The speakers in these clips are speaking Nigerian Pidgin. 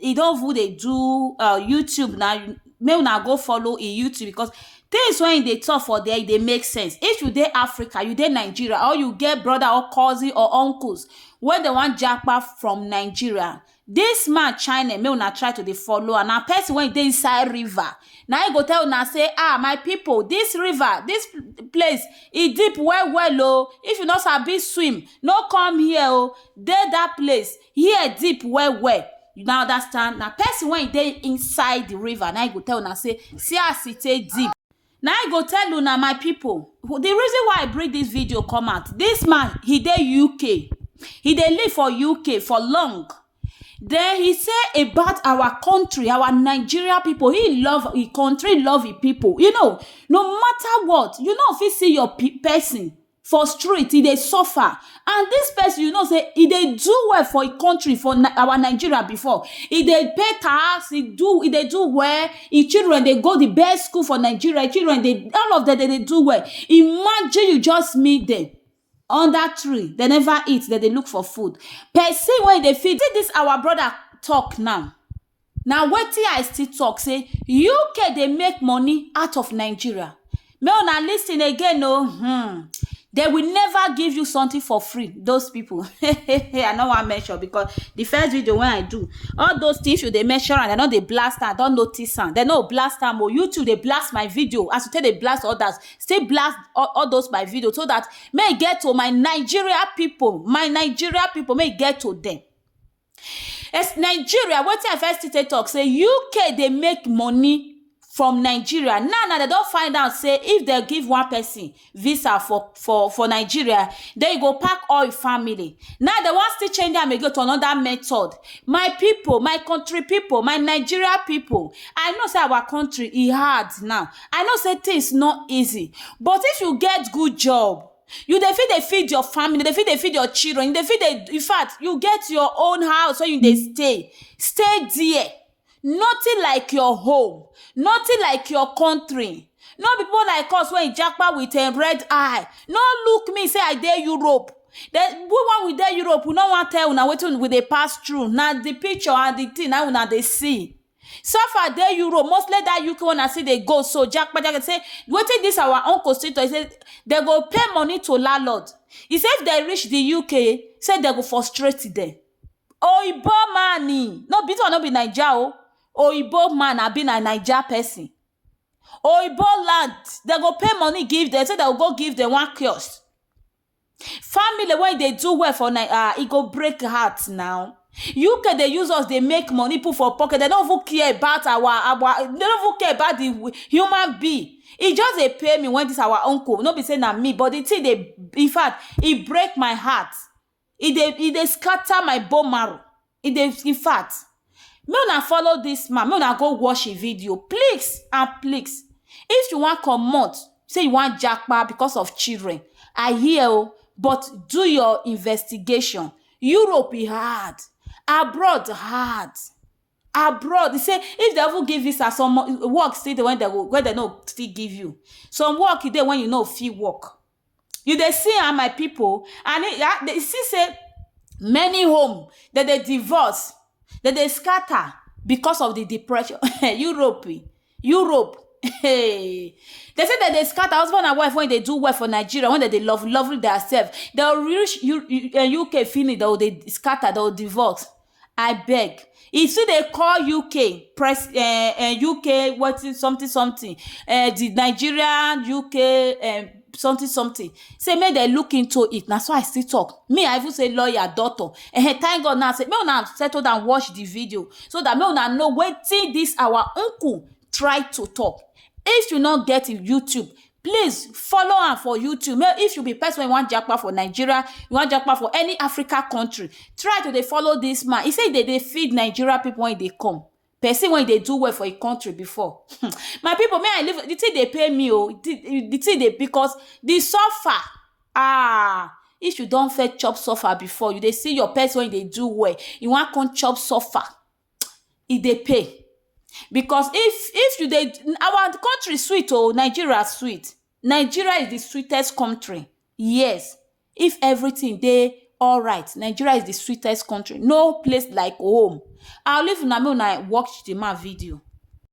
e don even dey do um YouTube na, make una go follow e YouTube because things wey e dey talk for there e dey make sense. If you dey Africa, you dey Nigeria or you get brother or cousin or uncles wey dey wan japa from Nigeria, dis man channel make una try to dey follow am. Na person wey e dey inside river, na im go tell una say um my people dis river, dis place e deep well well o. If you no sabi swim, no come here o. Dey dat place, Here deep well well you now understand na person wey dey inside the river na go tell una say see as e take deep na I go tell una my people the reason why I bring this video come out this man he dey UK he dey live for UK for long then he say about our country our Nigeria people he love his country he love his people you know no matter what you no fit see your person for street e dey suffer and dis person you know say e dey do well for im country for our Nigeria before e dey pay tax e do e dey do well im children dey go di best school for Nigeria im children dey all of dem dey dey do well imagine you just meet dem under tree dem never eat dem dey look for food person wey dey feed see dis our brother talk now Na wetin I still talk say UK dey make money out of Nigeria. Make una listen again o. Hmm. They will never give you something for free. Those people. I no wan mention because the first video when I do, all those things you dey mention and I no dey blast am, I don notice am. They no blast am o. YouTube dey blast my video as you take dey blast others. Still blast all, all those my video so that may e get to my Nigeria people, my Nigeria people, may e get to them. As Nigeria, wetin I first take talk say UK dey make money from Nigeria. Now now dem don find out say if dem give one person visa for for for Nigeria, then you go pack all your family. Now dem wan still change am again to another method. My people, my country people, my Nigeria people, I know say our country e hard now. I know say things no easy but if you get good job, You dey fit dey feed your family, you dey fit dey feed your children, you dey fit dey in fact you get your own house wey you dey stay, stay there. Nothing like your home, nothing like your country, no be pipu like us wey e japa wit um red eye, no look me sey I dey Europe, den we wen we dey Europe we nor wan tell una wetin we dey pass through, na di picture and di tin na hin una dey see. So far dey Europe, mostly that UK one I see dey go so, Jakpaja say wetin this our own constitutor, he say they go pay money to landlord. He say if they reach the UK, say they go frustrate them. Oyibo man ni, no be this one no be Naija o, Oyibo man abi na Naija person. Oyibo land, they go pay money give them, say they go go give them one kiosk. Family wey dey do well for Naija, ah, e go break heart now. UK dey use us dey make money put for pocket, dem no even care about our our, dem no even care about the human being. E just dey pain me when dis our uncle, no be sey na me but the thing dey, in fact, e break my heart, e dey e dey scatter my bone marrow. e dey infact make una follow dis man make una go watch him video please and please if you wan comot say you wan japa because of children I hear oo but do your investigation Europe e hard abroad hard abroad e say if dem even give visa some work still dey wey dem no go still give you some work dey wey you no fit work You dey see am my pipu and you see sey many home dem dey divorce, dem dey scatter because of de depression. Europe um Europe um dey say dem dey scatter husband and wife wey dey do well for Nigeria wey dem dey love love theirself dey reach UK finish dey go dey scatter dey go divorce. Abeg, e still dey call UK press um UK wetin something something um the Nigeria UK um something something sey make dem look into it, na so I still talk. Me I even say lawyer, doctor um thank God now sey make una settle down watch the video so dat make una know wetin dis our uncle try to talk if you no get youtube please follow am for youtube make if you be person wey wan japa for nigeria you wan japa for any africa country try to dey follow this man he say he dey dey feed nigeria people when he dey come person wey dey do well for him country before my people may i leave the thing dey pain me o the the thing dey because the suffer ah if you don first chop suffer before you dey see your person wey dey do well you wan come chop suffer e dey pay because if if you dey our country sweet oh Nigeria sweet Nigeria is the sweetest country yes if everything dey alright Nigeria is the sweetest country no place like home I will leave una make una watch the man video.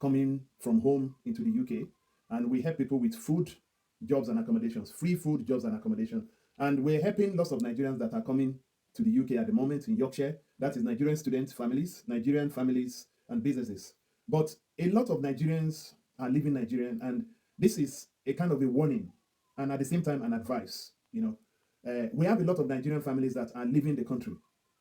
coming from home into di UK and we help pipo wit food, jobs and accommodations, free food, jobs and accommodation and we're helping lots of Nigerians dat are coming to di UK at di moment in Yorkshire, dat is Nigerian student families, Nigerian families and businesses but a lot of Nigerians are leaving Nigerian and dis is a kind of a warning and at di same time an advice, you know. Eh, we have a lot of Nigerian families dat are leaving di country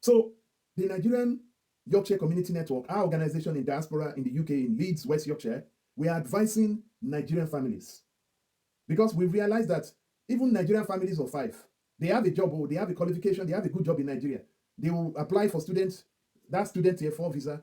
So, di Nigerian Yorkshire Community Network, our organisation in diaspora in di UK in Leeds, West Yorkshire, we are advising Nigerian families because we realise dat even Nigerian families of five, dey have a job o, dey have a qualification, dey have a good job in Nigeria, dey will apply for student, dat student tier four visa,